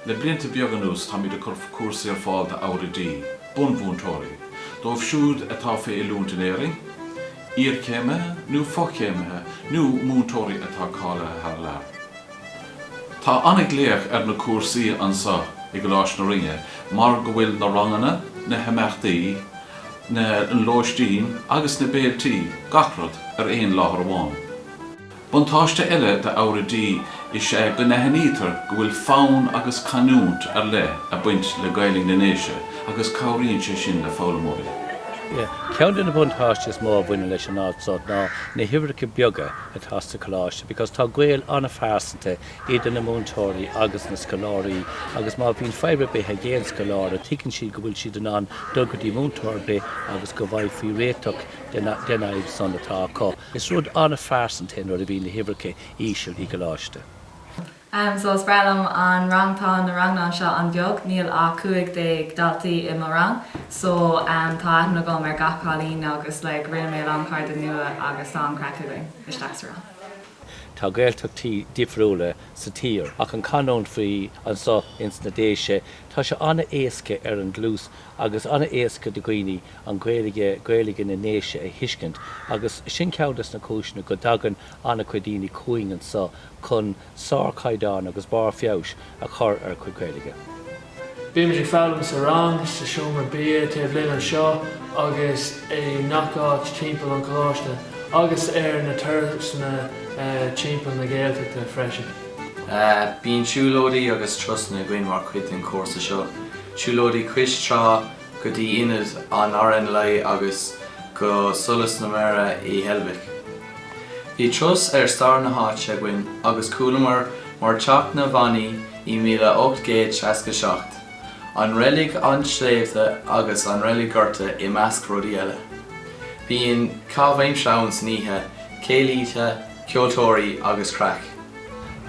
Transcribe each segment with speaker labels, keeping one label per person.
Speaker 1: Le blianta beaga anuas táimid ag cur cúrsaí ar fáil d'ábhair oidí, bunmhúinteoirí, dóibh siúd atá fé oiliúint in Éirinn, iarchéimithe nó fo-chéimithe nó múinteoirí atá cáilithe thar lear. Tá an-ghlaoch ar na cúrsaí anso i gColáiste na Rinne mar go bhfuil na ranganna, na himeachtaí na lóistín agus na béilí, gach rud, ar aon láthair amháin. Buntáiste eile d'ábhair oidí is ea go n-aithnítear go bhfuil fonn agus canúint ar leith ag baint le Gaeilg na nDéise agus cabhraíonn sé sin le foghlaimeoirí.
Speaker 2: Ceann de na buntáistí is mó a bhaineann leis an áit seo ná na huimhreacha beaga atá sa Choláiste because tá gaol an-phearsanta idir na múinteoirí agus na scoláirí agus má bhíonn fadhb ar bith ag aon scoláire tuigeann siad go bhfuil siad in ann dul go dtí múinteoir ar bith agus go bhfaighfí réiteach den fhadhb san atá acu. Is rud an-phearsanta é nuair a bhíonn na huimhreacha íseal i gcoláiste.
Speaker 3: So is breá liom an rang tá na ranganna seo an-bheag níl ach 15 daltaí i mo rang so am tá aithne agam ar gach cailín agus like rinne mé a lán cairde nua agus tá an-chraic againn istigh sa rang.
Speaker 2: Tá Gaeltachtaí difriúla sa tír, ach an canúint fé leith anso ins na Déise, tá sé an-éasca ar an gcluas agus an-éasca do dhaoine an Ghaeilge, Gaeilge na nDéise a thuiscint agus sin ceann des na cúiseanna go dtagann an-chuid daoine chugainn anso chun sárchaighdeán agus barr feabhais a chur ar a gcuid Gaeilge.
Speaker 4: Bímid ag foghlaim sa rang, sa seomra bia, taobh linne anseo agus i ngach áit timpeall an choláiste agus ar na turasanna timpeall na Gaeltachta
Speaker 5: freisin. Bíonn siúlóidí agus turasanna againn mar chuid den chúrsa seo, siúlóidí cois trá, go dtí Ionad an RNLI agus go Solas na Mara i Heilbhic. Bhí turas ar stair na háite againn agus chualamar mar theacht na bhFíníní i míle ocht gcéad seasca seacht, an Reilig an tSléibhe agus an reilig gorta i measc rudaí eile. Bíonn caitheamh aimsire ann san oíche, céilithe, ceoltóirí agus craic.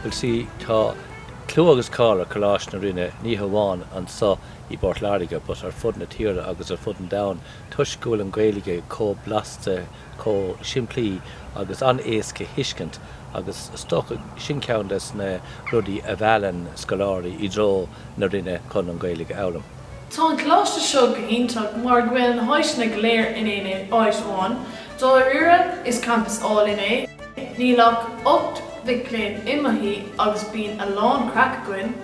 Speaker 5: Bhuel, sea,
Speaker 2: tá clú agus cáil ar Choláiste na Rinne, ní hamháin anso i bPort Láirge but ar fud na tíre agus ar fud an domhain toisc go bhfuil an Ghaeilge chomh blasta, chomh simplí agus an-éasca a thuiscint agus is dócha sin ceann des na rudaí a mheallann scoláirí i dtreo na Rinne chun an Ghaeilge a fhoghlaim. Tá an
Speaker 6: coláiste seo go hiontach mar go bhfuil na háiseanna go léir in aon áit amháin. Dáiríre is campas álainn é. Níl ach ocht mic léinn i mo thigh agus bíonn a lán craic againn.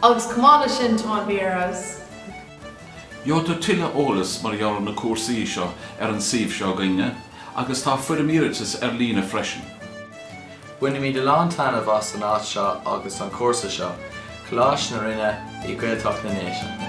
Speaker 6: Agus chomh maith leis sin, tá bia ar fheabhas.
Speaker 1: Gheobhaidh tú tuilleadh eolas mar gheall ar na cúrsaí seo ar an suíomh seo againn-ne agus tá foirm iarratais ar líne freisin.
Speaker 5: Bainimid a lán taitneamh as an áit seo agus an cúrsa seo, Coláiste na Rinne i nGaeltacht na nDéise.